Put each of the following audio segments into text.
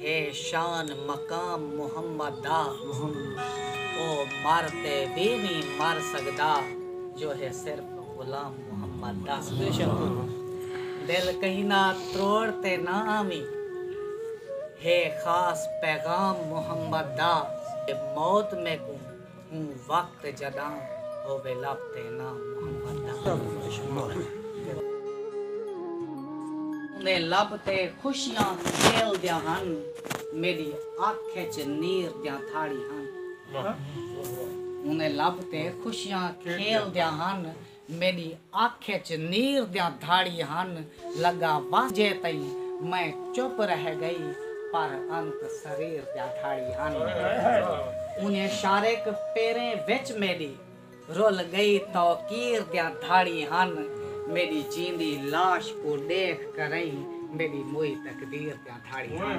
ہے شان مقام محمد دا۔ او مر تے وی نی مر سڳدا جو ہے صرف غلام محمد دا۔ دل کہیں دا تروڑ تے نہ آویں ہے خاص پیغام محمد دا۔ موت میکوں اوں وقت جڈاں ہووے لب تے ناں محمد دا اوندے لب تے خوشیاں کھیل دیاں ہن میڈی اکھ اچ نیر دیاں تھاڑی ہن اوندے لب تے خوشیاں کھیل دیاں ہن۔ میݙی اکھ اچ نیر دیاں دھاڑی ہن لڳا وہجے تئیں میں چپ رہ ڳئی پر انت سریر دیاں دھاڑی ہن انھیں شارق پیریں وچ میݙی رل ڳئی توقیر دیاں دھاڑی ہن میݙی جیندی لاش کوں ݙیکھ کرئیں میݙی موئی تقدیر دیاں دھاڑی ہن۔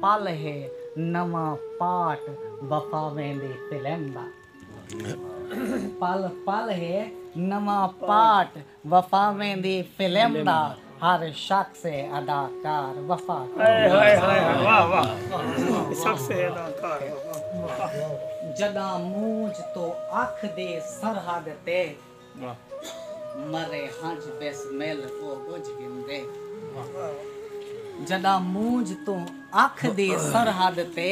پل ہے نواں پارٹ وفا ویندی فلم دا پل پل ہے نواں پارٹ وفا ویندی فلم دا ہر شخص ہے اداکار وفا جݙاں مونجھ توں اکھ دی سرحد تے مرے ہنجھ بس مل او ٻجھ گھندے۔ جݙاں مونجھ توں اکھ دی سرحد تے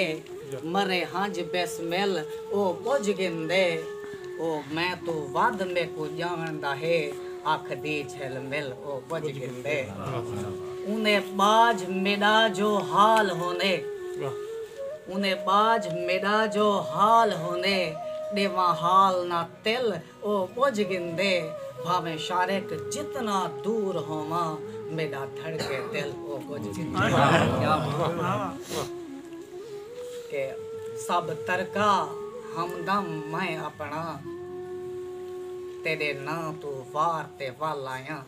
مرے ہنجھ بس مل او ٻجھ گھندے۔ او میں توں ودھ میکوں ڄاݨدا ہے اکھ دی جھل مل او ٻجھ گھندے۔ اوندے ٻاجھ میݙا جو حال ہوندے۔ اوندے ٻاجھ میݙا جو حال ہوندے ݙیواں حال نہ تل او ٻجھ گھندے بھانویں شارک جتنا دور ہوواں میݙا دھڑکے دل او ٻجھ گھندے کہ سب ترکا ہمدم میں اپݨا تیݙے ناں توں وار تے ول آیاں۔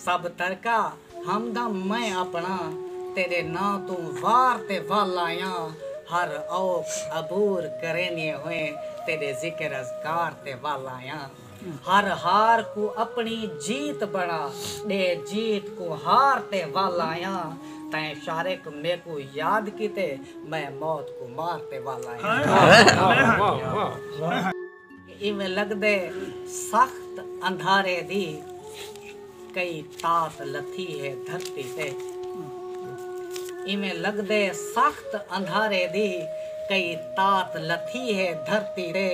سب ترکا ہمدم میں اپنا تیڈے ناں توں وار تے ول آیاں ہر اوکھ عبور کریندیں ہوئیں تیڈے ذکر اذکار تے ول آیاں ہر ہار کوں اپنی جیت بنا ڈے جیت کوں ہار تے ول آیاں تیں شارق میکوں یاد کیتے میں موت کوں مار تے ول آیاں۔ ایویں لگدے سخت اندھارے دی کئی تات لتھی ہے دھرتی تے ایویں لگدے سخت اندھارے دی کئی تات لتھی ہے دھرتی تے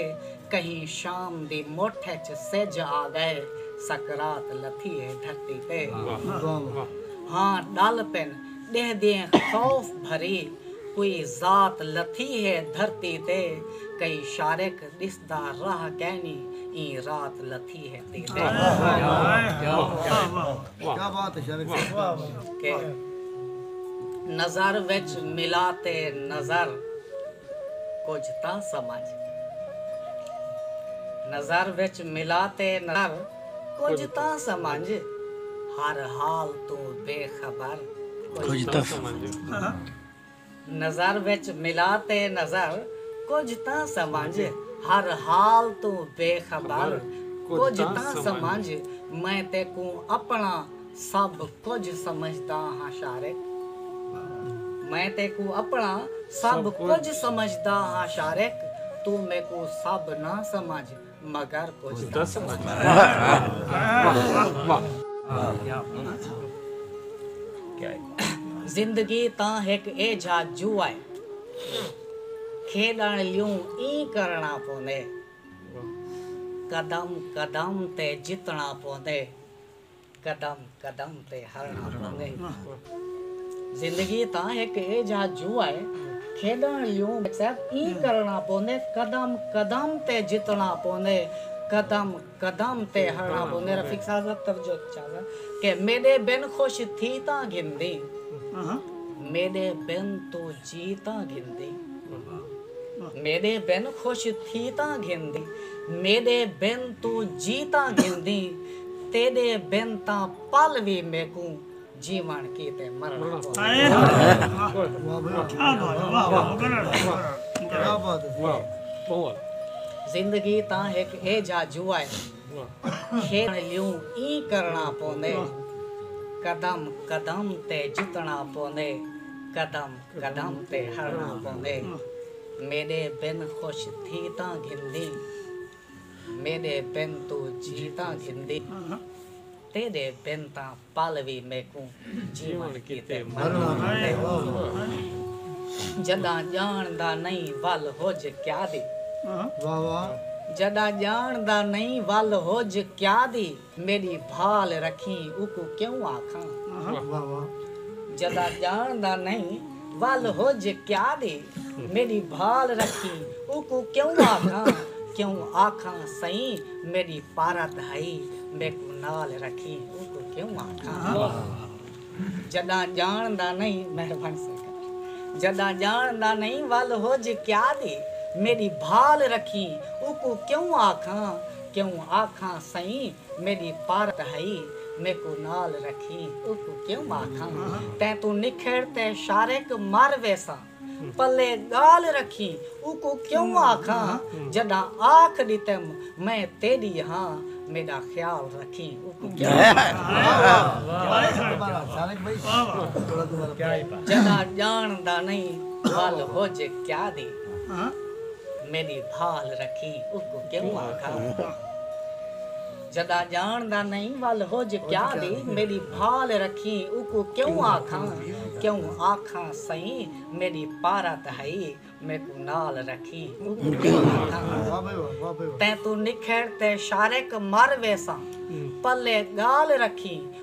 کہیں شام دی مٹھ اچ سجھ آ گئے سکرات لتھی ہے دھرتی تے ہاں ڈل پن ڈیہہ دیں خوف بھری کوئی ذات لتھی ہے دھرتی تے کئی شارق ݙسدا راہ کینی ایں رات لتھی ہے تے کہ نظر وچ ملا تے نظر کجھ تاں سمجھ نظر وچ ملا تے نظر کجھ تاں سمنج ہر حال توں بے خبر کجھ تاں سمنج نظر وچ ملا تے نظر کجھ تاں سمنج ہر حال توں بے خبر کجھ تاں سمنج میں تیکوں اپنا سب کجھ سمجھداں ہاں شارق میں تیکوں اپنا سب کجھ سمجھداں ہاں شارق توں میکوں سب نہ سمجھ مگر کچھ دس زندگی تاں ہک اے جھا جو آئے کھیڈن لیوں ایں کرنا پوندے قدم قدم تے جتنا پوندے قدم قدم تے ہرݨا پوندے زندگی تاں ہک ایجھا جوا ہے کھیݙݨ لیوں صاحب ایں کرݨا پوندے قدم قدم تے جتݨا پوندے قدم قدم تے ہرݨا پوندے رفیق صاحب ذرا توجہ چاہنداں کہ میݙے بن خوش تھی تاں گھندی میݙے بن توں جی تاں گھندی میݙے بن خوش تھی تاں گھندیں میݙے بن توں جی تاں گھندیں تیݙے بن تاں پل وی میکوں جیوݨ کیتے مرݨا پوندے زندگی تاں ہک ایجھا جوا ہے کھیݙݨ لیوں ایں کرݨا پوندے قدم قدم تے جتݨا پوندے قدم قدم تے ہرݨا پوندے میݙے بن خوش تھی تاں گھندیں میݙے بن توں جی تاں گھندیں تیݙے بن تاں پل وی میکوں جیوݨ کیتے مرݨا پوندے جݙاں ڄاݨ دا نئیں ول ہج کیا دی جݙاں ڄاݨ دا نئیں ول ہج کیا دی۔ میݙی بھال رکھیں اوکوں کیوں آکھاں۔ جݙاں ڄاݨدا نئیں ول ہج کیا ݙے۔ میݙی بھال رکھیں اوکوں کیوں آکھاں۔ کیوں آکھاں سئیں میݙی پارت ہئی میکوں نال رکھیں اوکوں کیوں آکھاں۔ جݙاں ڄاݨ دا نئیں مہربانی سر کر جݙاں ڄاݨ دا نئیں ول ہوج کیا دی میݙی بھال رکھیں اوکوں کیوں آکھاں کیوں آکھاں سئیں میݙی پارت ہئی میکوں نال رکھیں اوکوں کیوں آکھاں تیں توں نکھڑ تے شارق مر ویساں۔ پلے ڳالھ رکھیں اوکوں کیوں آکھاں جݙاں آکھ ݙتم میں تیݙی ہاں میݙا خیال رکھیں اوکوں کیوں آکھاں جݙاں ڄاݨدا نئیں ول ہج کیا دی میݙی بھال رکھیں اوکوں کیوں آکھاں۔ جھڳا ڄاݨ دا نئیں ول ہج کیا دی میݙی بھال رکھیں اوکوں کیوں آکھاں کیوں آکھاں سئیں میݙی پارت ہئی میکوں نال رکھیں اوکوں کیوں آکھاں تیں توں نکھڑ تے شارق مر ویساں پلے ڳال رکھیں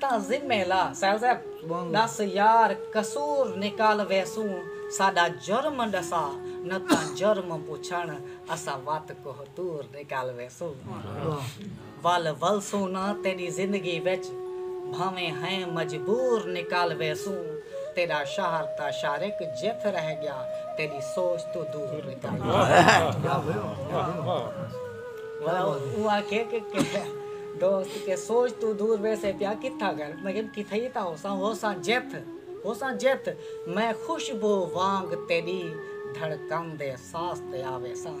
تاں ذمے لا ݙس یار قصور نکال ویسوں ساݙا جرم ݙسا نہ تاں جرم پچھݨ اساں وت کوہ طور نکال ویسوں ول ولسوں نہ تیݙی زندگی وچ بھانویں ہیں مجبور نکال ویسوں تیݙا شہر تاں شارق جتھ رہ ڳیا تیݙی سوچ توں دور نکال ویسوں۔ دوست کے سوچ توں دور ویسے پیا کتھا گر مگن کتھئی تاں ہوساں ہوساں جتھ ہوساں جتھ میں خوشبو وانگ تیڈی دھڑکن دے ساس تے آ ویساں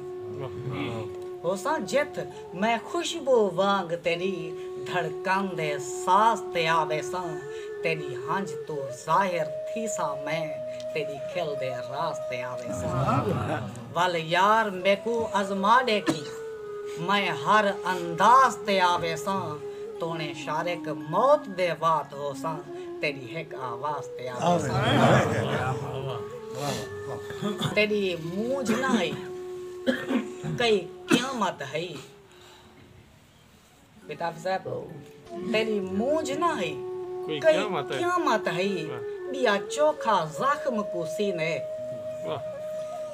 ہوساں جتھ میں خوشبو وانگ تیڈی دھڑکن دے ساس تے آ ویساں تیڈی ہنج توں ظاہر تھیساں میں تیڈی کھل دے راز تے آ ویساں۔ ول یار میکوں ازما ڈیکھی میں ہر انداز تے آویساں تونے شارق موت دے وات ہوساں تیڈی ہک آواز تے آویساں تیڈی مونجھ نہ ہئی کئی قیامت ہئی۔ بیتاب صاحب تیݙی مونجھ نہ ہئی کئی قیامت ہئی ٻیا چوکھا زخم کوں سینے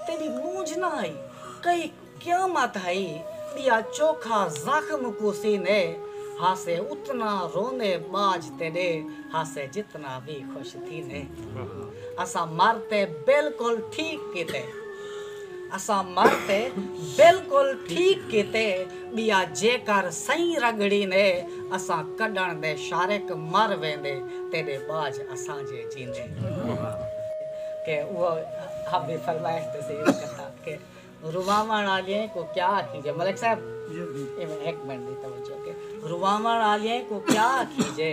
تیݙی مونجھ نہ ہئی کئی قیامت ہئی ٻیا چوکھا زخم کوں سینے ہاسے اتنا رونے ٻاجھ تیݙے ہاسے جتنا وی خوش تھینے اساں مر تے بالکل ٹھیک کیتے اساں مر تے بالکل ٹھیک کیتے۔ ٻیا جیکر سئیں رڳڑی نے اساں کڈھݨ دے شارک مر ویندے تیݙے باج اساں جے جیندے کہ اوہ آپ دی فرمائش تے سید کتا کہ رواوݨ آلیئیں کوں کیا آکھیجے ملک صاحب ایویں ہک منٹ دی توجہ کہ رواوݨ آلیئیں کوں کیا آکھیجے۔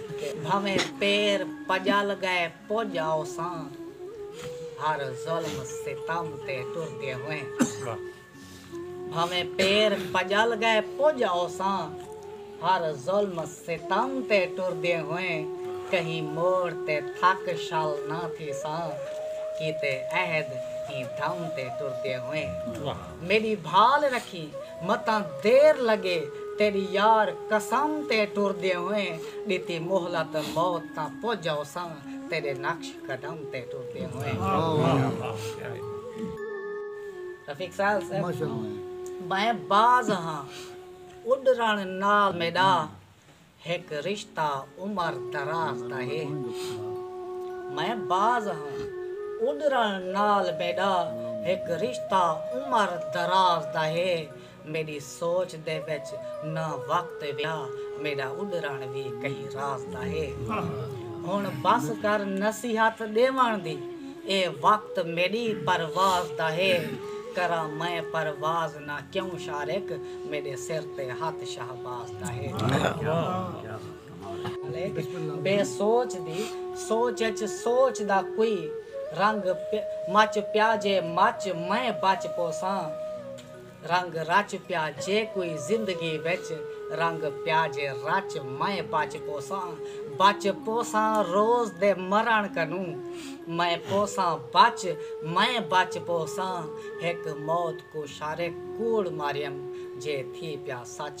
بھنویں پیر پڄل ڳئے پڄ آوساں ہر ظلم ستم تے ٹردے ہوئے بھنویں پیر پڄل ڳئے پڄ آوساں ہر ظلم ستم تے ٹردے ہوئے کہیں موڑ تے تھک شل نہ تھیساں کیتے عہد ایں دھم تے ٹردے ہوئے۔ میݙی بھال رکھی متاں دیر لڳے تیݙی یار قسم تے ٹردیں ہوئیں ݙتی مہلت موت تاں پڄ آوساں تیݙے نقش قدم تے ٹردیں ہوئیں۔ رفیق سال صاحب میں باز ہاں اݙرݨ نال میݙا ہک رشتہ عمر دراز دا ہے میں باز ہاں اݙرݨ نال میݙا ہک رشتہ عمر دراز دا ہے میݙی سوچ دے وچ نہ وقت ویا میݙا اݙرݨ وی کہیں راز دا ہے ہݨ بس کر نصیحت ݙیوݨ دی اے وقت میݙی پرواز دا ہے کراں میں پرواز نہ کیوں شارق میݙے سر تے ہتھ شہباز دا ہے۔ بے سوچ دی سوچ اچ سوچ دا کوئی رنگ مچ پیا جے مچ میں بچ پوساں رنگ رچ پیا جے کوئی زندگی وچ رنگ پیا جے رچ میں بچ پوساں بچ پوساں روز دے مرݨ کنوں میں پوساں بچ میں بچ پوساں ہک موت کوں شارے کوڑ ماریم جے تھی پیا سچ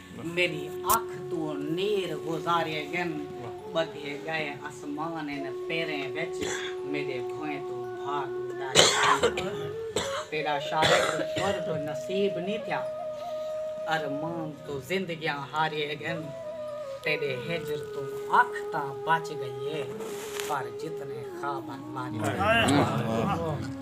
میݙی اکھ توں نیر گزارے ڳن ٻدھے ڳئے اسمان ان پیریں وچ میݙے بھوئیں توں بھاڳ اݙارے ڳن تیݙا شارق قرب نصیب نی تھیا ارمان توں زندگیاں ہارے ڳن تیݙے ہجر توں اکھ تاں بچ ڳئی اے پر جتنے خوابن مارے ڳن۔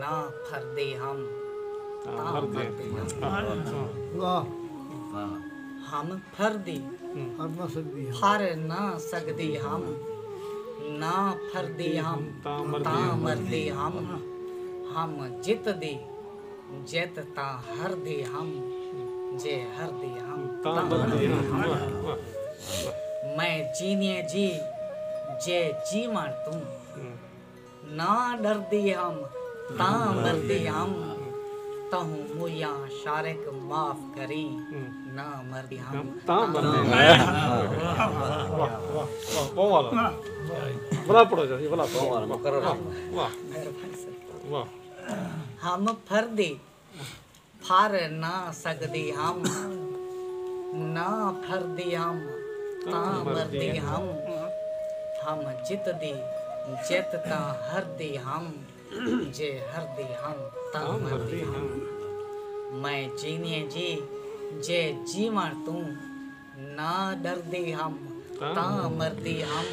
نہ پھردے ہم تاں مردے ہم ہم پھردے پھر نہ سگدے ہم نہ پھردے ہم تاں مردے ہم ہم جت دے جت تاں ہردے ہم جے ہردے ہم تاں مردے ہم میں جیویں جی جے جیوݨ توں نہ ݙردی ہم تاں مردی ہم تہوں مویاں شارق معاف کریں نہ مردی ہم تاں مردی ہم ہم پھردی پھر نہ سگدی ہم نہ پھردی ہم تاں مردی ہم ہم جتدی جت تاں ہردی ہم جے ہردی ہم تاں مردی ہم میں جینیے جی جے جیوݨ توں نہ ݙردی ہم تاں مردی ہم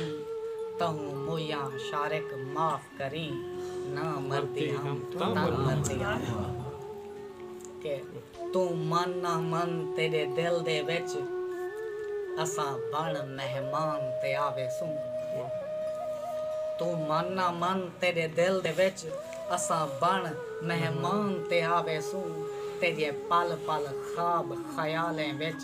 تہوں مویاں شارق معاف کریں نہ مردی ہم تاں مردی ہم کہ توں من نہ من تیݙے دل دے وچ اساں بݨ مہمان تے آویسوں توں من نہ من تیݙے دل دے وچ اساں بݨ مہمان تے آویسوں تیݙے پل پل خواب خیالیں وچ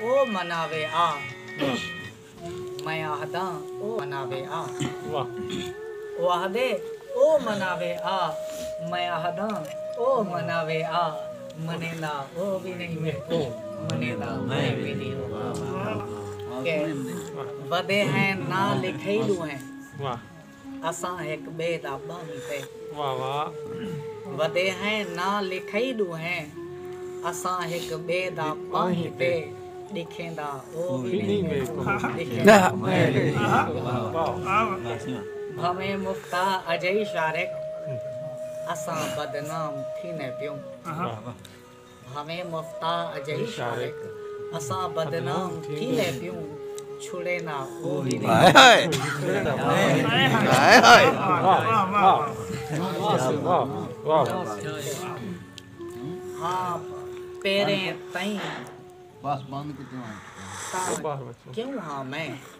او مناوے آ میں آہداں او مناوے آ او آہدے او مناوے آ میں آہداں او مناوے آ منیندا او وی نئیں میکوں منیندا میں وی نئیں اوکوں کہ ودے ہیں ناں لکھئیلو ہیں اساں ہک ٻئے دا ٻانہی تے۔ واہ واہ۔ ودے ہیں ناں لکھئی ݙوہیں۔ اساں ہک ٻئے دا ٻانہی تے۔ ݙکھیندا او وی نئیں میکوں ݙکھیندا میں وی نئیں میکوں۔ بھانویں مفتا اجئی شارق۔ اساں بدنام تھیندے پیوں۔ بھانویں مفتا اجہی شارق اساں بدنام تھیندے پیوں چھڑے نہ او وی ہاں پیریں تئیں تاں کیوں ہاں میں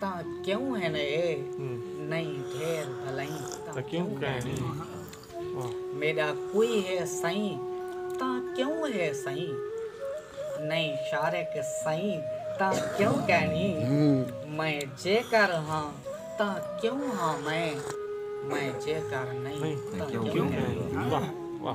تاں کیوں ہن اے نئیں ڈھیر بھلائیں تاں کیوں کہنیں میڈا کوئی ہے سئیں تاں کیوں ہے سئیں نئیں شارق سئیں تاں کیوں کہنیں میں جے کر ہاں تاں کیوں ہاں میں میں جے کر نئیں تاں کیوں کہنیں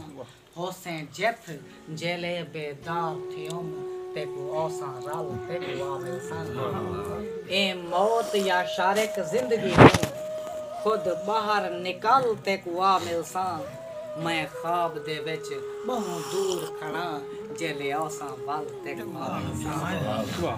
ہوسیں جتھ جیلے بے دار تھیون تیکوں اوساں رل تیکوں آ ملسن ایں موت یا شارک زندگی توں خود ٻاہر نکل تیکوں آ ملساں میں خواب دے وچ ٻہوں دور کھڑاں جیلے اوساں ول تیکوں آ ملساں۔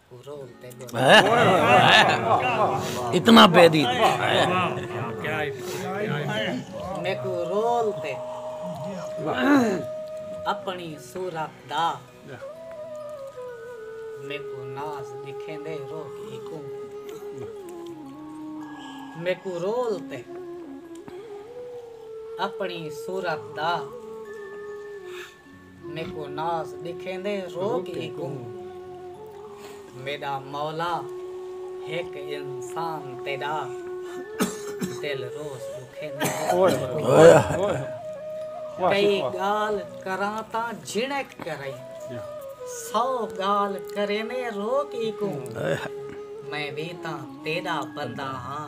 اتنا پہ دی میکو رول تے اپنی صورت دا میکو ناز دکھیں دے رو کی کوں میکو رول تے اپنی صورت دا میکوں ناز ݙکھیندے روک ہیکوں میݙا مولا ہک انسان تیݙا دل روز ݙکھیندے کئی ڳالھ کراں تاں جھنک کرئیں سو ڳالھ کریندے روک ہیکوں میں وی تاں تیݙا بندہ ہاں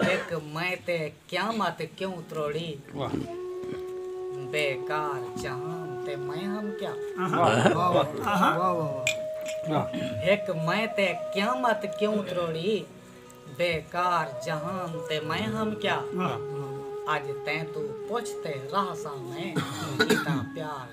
ہک میں تے قیامت کیوں تروڑی بے کار جہان تے میں ہم کیا ہک میں تے قیامت کیوں تروڑی بے کار جہان تے میں ہم کیا اج تیں تو پوچھتے راہ سا میں کیتا پیار